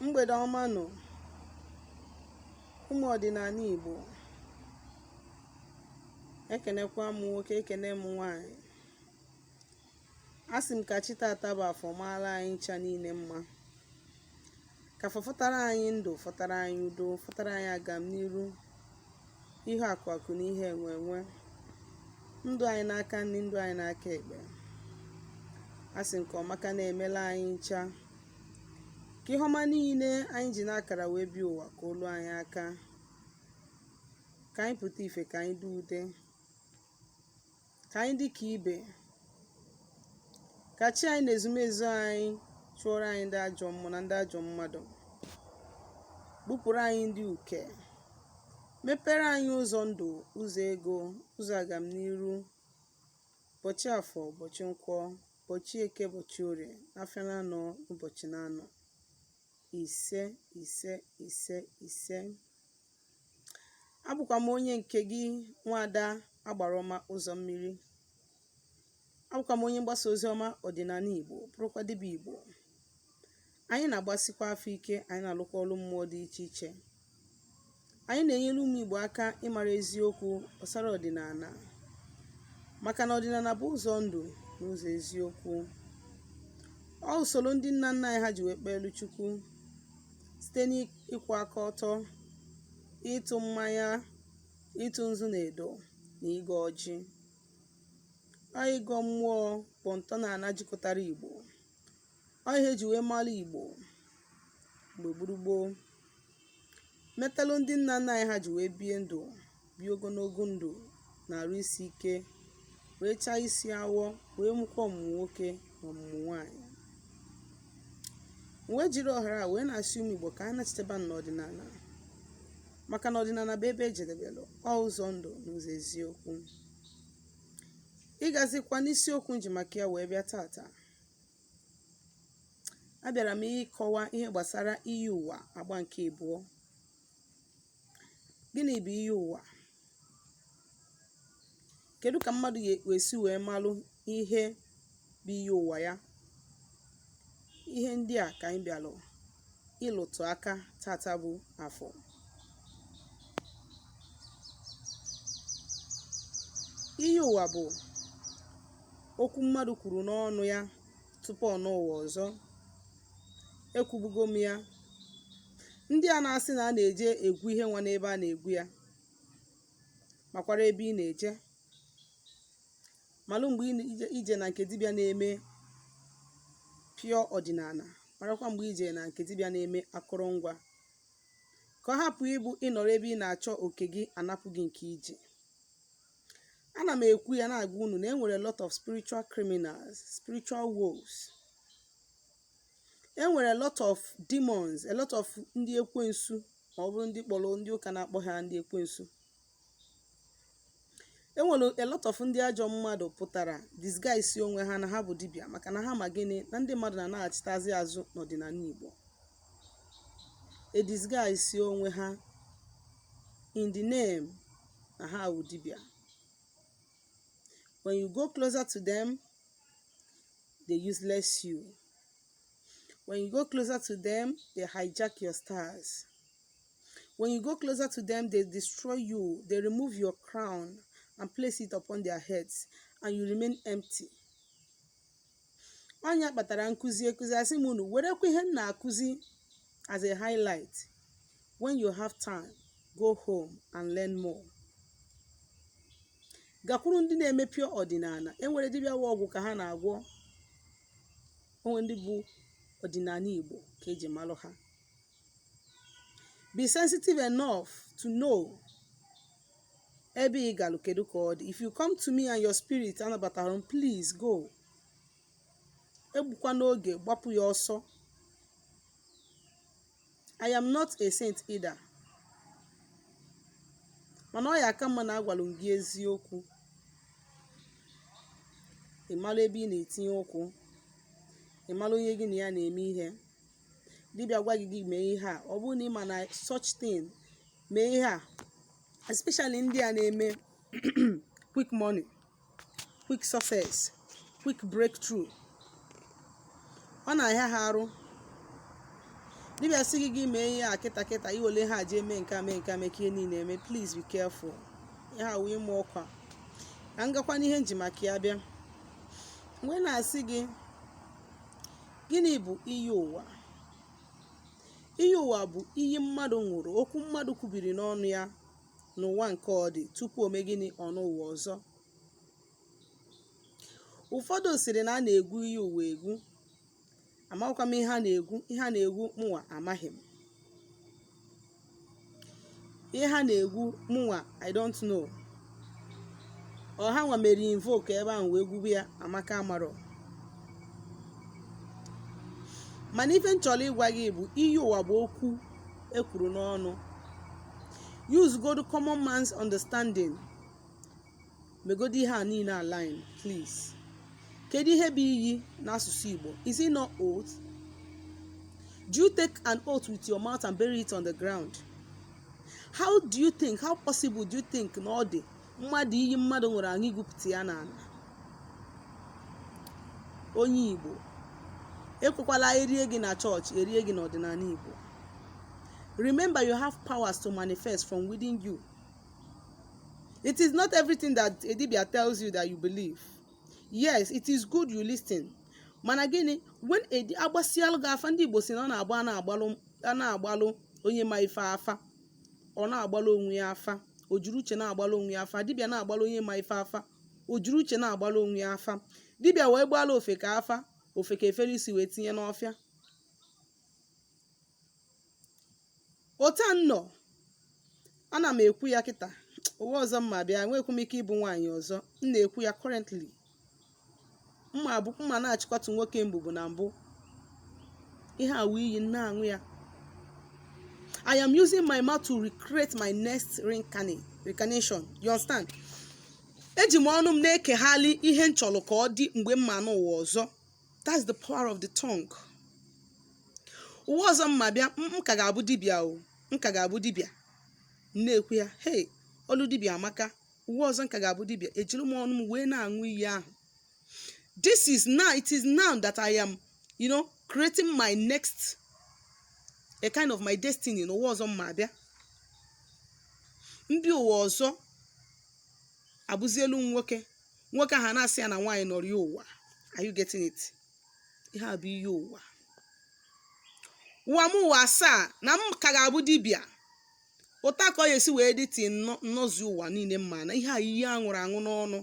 mgbede ọma nụ ụmụ ọdịnala Igbo ekenekwa m nwoke ekene m nwanyị asị m ka chi tata bụ afọ maara anyị ncha niile mma ka afọ fọtara anyị ndụ fọtara anyị udo fọtara anyị agamniru ihe akụ akụ na ihe enwe enwe ndụ anyị n'aka nri ndụ anyị n'aka ekpe asị m ka ọmaka na-emela anyị ncha ka ihe ọma niile anyị ji n'akara wee bịa ụwa ka o lu anyị aka ka anyị pụta ife ka anyị dị ude ka anyị dị ka ibe ka chi anyị na ezumezu anyị chụọrọ anyị ndị ajọ mmụọ na ndị ajọ mmadụ gbupụrụ anyị ndị uke mepere anyị ụzọ ndụ ụzọ ego ụzọ agamniru ụbọchị afọ ụbọchị nkwọ Ụbọchị Eke, ụbọchị Orie, afịa naanọ ụbọchị naanọ ise ise ise ise. Abụkwa m onye nke gị nwaada agbara ọma ụzọ mmiri. Abụkwa m onye mgbasa ozi ọma ọdịnala Igbo, bụrụkwa dibịa Igbo. anyị na-agbasikwa afa ike anyị na-alụkwa ọlụ mmụọ dị iche iche anyị na-enyere ụmụ Igbo aka ịmara eziokwu gbasara ọdịnala maka na ọdịnala bụ ụzọ ndụ na ụzọ eziokwu ọ usoro ndị nna nna anyị ha ji wee kpeelu Chukwu site n'ịkwụ aka ọtọ ịtụ mmanya ịtụ nzu na edo na ịgọ ọjị ọ ịgọ mmụọ bụ ntọala jikọtara Igbo ọ ihe eji wee mara Igbo mgbe gburu gboo metalụ ndị nna nna anyị ha ji wee bie ndụ bie ogologo ndụ na arụ isi ike wee chaa isi awọ wee mụkwa ọmụmụ nwoke na ọmụmụ nwaanyị m wee jiri ohere a wee na-asị ụmụ Igbo ka anyị nachiteba n'ọdịnala maka na ọdịnala bụ ebe ejedebelụ ọ ụzọ ndụ na ụzọ eziokwu ịgazikwa n'isiokwu m ji maka ya wee bịa tata abịara m ịkọwa ihe gbasara iyi ụwa agba nke ịbụọ gịnị bụ iyi ụwa kedu ka mmadụ ga-esi wee malụ ihe bụ iyi ụwa ya ihe ndị a ka anyị bịalụ ịlụtụ aka tata bụ afọ iyi ụwa bụ okwu mmadụ kwuru n'ọnụ ya tupu ọ nọ ụwa ọzọ ekwubugo m ya ndị a na-asị na a na-eje egwu iyi ụwa n'ebe a na-egwu ya makwara ebe ị na-eje malụ mgbe i je na nke dibịa na-eme pure ọdịnala marakwa mgbe i je na nke dibịa na-eme akụrụngwa ka ọ hapụ ịbụ ị nọrọ ebe ị na-achọ oke gị a napụ gị nke i ji ana m ekwu ya na-agwa unu na e nwere a lot of spiritual criminals spiritual wolves e nwere a lot of demons a lot of ndị ekwensu ma ọ bụrụ ndị kpọrọ ndị ụka na-akpọ ha ndị ekwensu e nwere a lot of ndị ajọ mmadụ pụtara disguise onwe ha na ha bụ dibịa maka na ha ma gịnị na ndị mmadụ na-anaghachitazi azụ n'ọdịnala Igbo e disguise onwe ha in the name na ha bụ dibịa when you go closer to them they useless you when you go closer to them they hijack your stars When you go closer to them, they destroy you. They remove your crown and place it upon their heads, and you remain empty. Ọ nya kpatara nkụzi ekụzi asị m unu werekwa ihe m na-akụzi as a highlight. When you have time, go home and learn more. Gakwuru ndị na-eme pure ọdịnala. E nwere dibịa wụ ọgwụ ka ha na-agwọ. O nwere ndị bụ ọdịnala Igbo ka e ji malụ ha. be sensitive enough to know ebe ị galụ kedu ka ọ dị if you come to me and your spirit anabatarọ m please go egbukwana oge gbapụ ya ọsọ i am not a saint either mana ọ ya-aka mma na agwalụ m gị eziokwu ị mara ebe ị na-etinye ụkwụ ị mara onye gị na ya na-eme ihe dibịa gwa gị gị mee ihe a ọ bụrụ na ị ma na such thing mee ihe a especially ndị a na-eme quick money quick success quick breakthrough ọ na-ahịa ha arụ dibịa sị gị gị mee ihe a kịta kịta iwele ha jee mee nke a mee nke a mee ka ihe niile eme please be careful ihe a wee mụ ọkwa ka m gakwa n'ihe nji maka ya bịa mgbe na-asị gị Gịnị bụ iyi ụwa? Iyi ụwa bụ iyi mmadụ ṅụrụ, okwu mmadụ kwubiri n'ọnụ ya n'ụwa nke ọ dị tupu o mee gịnị? Ọ nọọ ụwa ọzọ. Ụfọdụ sịrị na a na-egwu iyi ụwa egwu. Amarọkwa m ihe a na-egwu. Ihe a na-egwu mụnwa amaghị m. ihe ha na-egwu mụnwa i don't know ọ ha nwa mere invoke ebe ahụ wee gwube ya amaka amarọ mana ife m chọrọ ịgwa gị bụ iyi ụwa bụ okwu e kwuru n'ọnụ use good common man's understanding megodi ihe a niile align please kedu ihe bụ iyi n'asụsụ igbo is it not oath do you take an oath with your mouth and bury it on the ground how do you think how possible do you think na ọ dị mmadụ iyi mmadụ ṅụrụ aṅụ igwupụta ya n'ala onye igbo ekwekwala erie gị na chọọchị erie gị n'ọdịnala igbo remember you have powers to manifest from within you It is not everything that a dibia tells you that you believe. Yes, it is good you listen. Mana gịnị when a di- agbasialụ gị afa ndị Igbo sị na ọ na-agba a na-agbalụ a na-agbalụ onye ma ife afa ọ na-agbalụ onwe ya afa o jiri uche na-agbalụ onwe ya afa dibịa na-agbalụ onye ma ife afa o jiri uche na-agbalụ onwe ya afa dibịa wee gbaalụ ofeke afa ofeke efere isi wee tinye n'ọfịa otu a m nọ ana m ekwu ya kịta ụwa ọzọ m ma-abịa enweghịkwa m ike ịbụ nwaanyị ọzọ m na-ekwu ya currently m ma-abụ m ma na-achịkọtụ nwoke mbụ bụ na mbụ ihe a wụ iyi m na-aṅụ ya I am using my mouth to recreate my next reincarnate reincarnation you understand eji m ọnụ m na-ekeghali ihe m chọrọ ka ọ dị mgbe m ma-anọ ụwa ọzọ that's the power of the tongue ụwa ọzọ m ma-abịa m ka ga-abụ dibịa o m ka ga-abụ dibịa na-ekwu ya hei ọlụ dibịa amaka ụwa ọzọ m ka ga-abụ dibịa ejiri m ọnụ m wee na-aṅụ iyi ahụ this is now it is now that i am you know creating my next a kind of my destiny n'ụwa ọzọ m ma-abịa m bịa ụwa ọzọ abụzielu m nwoke nwoke ahụ na-asị ya na nwaanyị nọrọ ya ụwa are you getting it ihe a bụ iyi ụwa ụwa m ụwa asaa na m ka ga-abụ dibịa otu a ka ọ ya-esi wee dị till m nọzi ụwa niile m ma-anọ ihe a iyi aṅụrụ aṅụ n'ọnụ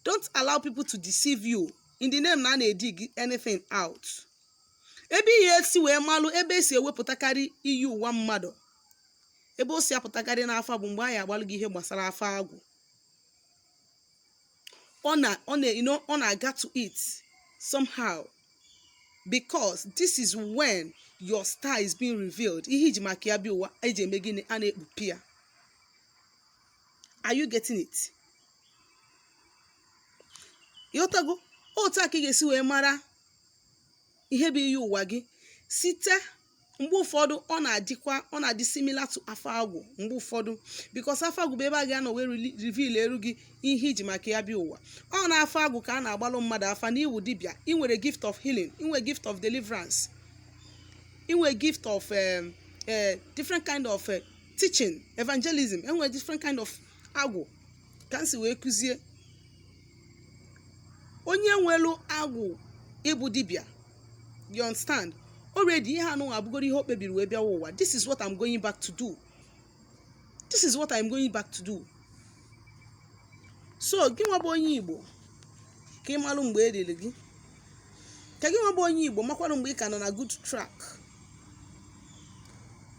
don't allow people to deceive you in the name na a na-edig anything out ebe ị ya-esi wee malụ ebe esi ewepụtakarị iyi ụwa mmadụ ebe o si apụtakarị n'afa bụ mgbe a ya-agbalụ gị ihe gbasara afa agwụ ọ na ọ na you know ọ na-aga to it somehow because this is when your star is being revealed ihe i ji maka ya bịa ụwa eji eme gịnị a na-ekpupụ ya are you getting it ịghọtago otu a ka ị ga-esi wee mara ihe bụ iyi ụwa gị site mgbe ụfọdụ ọ na-adịkwa ọ na-adị similar to afa agwụ mgbe ụfọdụ because afa agwụ bụ ebe a ga-anọ wee reli- reveal eru gị ihe i ji maka ya bịa ụwa ọ n'afa agwụ ka a na-agbalụ mmadụ afa na ị wụ dibịa ị nwere gift of healing ị nwere gift of deliverance ị nwere gift of um, uh, different kind of uh, teaching evangelism e nwere different kind of agwụ ka m si wee kụzie onye nwelu agwụ ịbụ dibịa you understand already ihe anụwa bụgoro ihe o kpebiri wee bịawa ụwa this is what I'm going back to do this is what I'm going back to do so gị nwa bụ onye Igbo ka ị malụ mgbe e riri gị ka gị nwa bụ onye Igbo makwarụ mgbe ị ka nọ na good track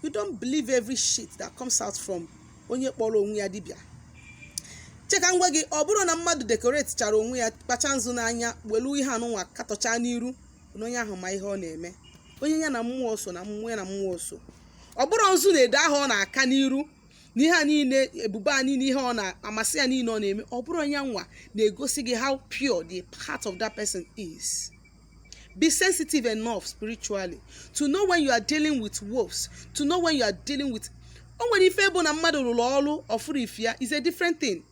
you don't believe every shit that comes out from onye kpọrọ onwe ya dibịa cheka ngwa gị ọ bụrụ na mmadụ dekoretichara onwe ya kpacha nzu n'anya welu ihe anụnwa katọcha n'iru na onye ahụ ma ihe ọ na-eme onye ya na mmụọ so na mmụọ ya na mmụọ so ọ bụrọ nzu na edo ahụ ọ na-aka n'iru na ihe a niile ebube a niile ihe ọ na-amasị ya niile ọ na-eme ọ bụrọ ya nwa na-egosi gị how pure the heart of that person is Be sensitive enough spiritually to know when you are dealing with wolves, to know when you are dealing with o nwere ife bụ na mmadụ rụrụ ọrụ ọ fụrọ ife ya is a different thing.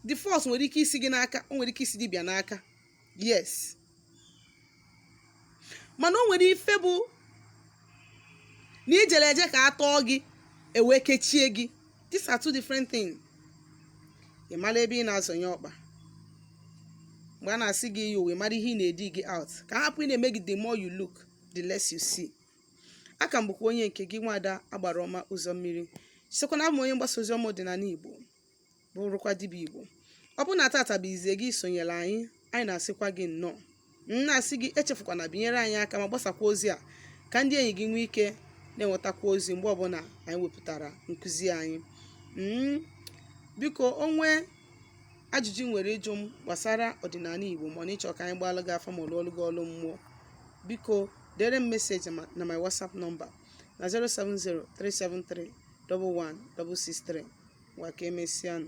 The fault nwere ike isi gị n'aka, o nwere ike isi dibịa n'aka. Yes. Mana o nwere ife bụ na i jere eje ka a tọọ gị e wee kechie gị these are two different things ị mara ebe ị na-azọnye ọkpa mgbe a na-asị gị yi uwe mara ihe ị na-edigi out ka a hapụ ịna-eme gị the more you look the less you see a ka m bụkwa onye nke gị nwada agbara ọma ụzọ mmiri sịkwa na abụ m onye mgbasa ozi ọma ọdịnala igbo bụrụkwa dibịa igbo ọ bụ na tata bụ izizi gị isonyere anyị anyị na-asịkwa gị nnọọ m na-asị gị echefukwana binyere anyị aka ma gbasakwa ozi a ka ndị enyi gị nwee ike na-enwetakwa ozi mgbe ọbụla anyị wepụtara nkụzi anyị mm, biko o nwee ajụjụ i nwere ịjụ m gbasara ọdịnala igbo ma na ị chọ ka anyị gbaalụ gị afa ma ọ lụọlụ gị ọlụ mmụọ biko dere m meseji na my whatsapp nọmba na 070 373 11663 ngwa ka emesịanụ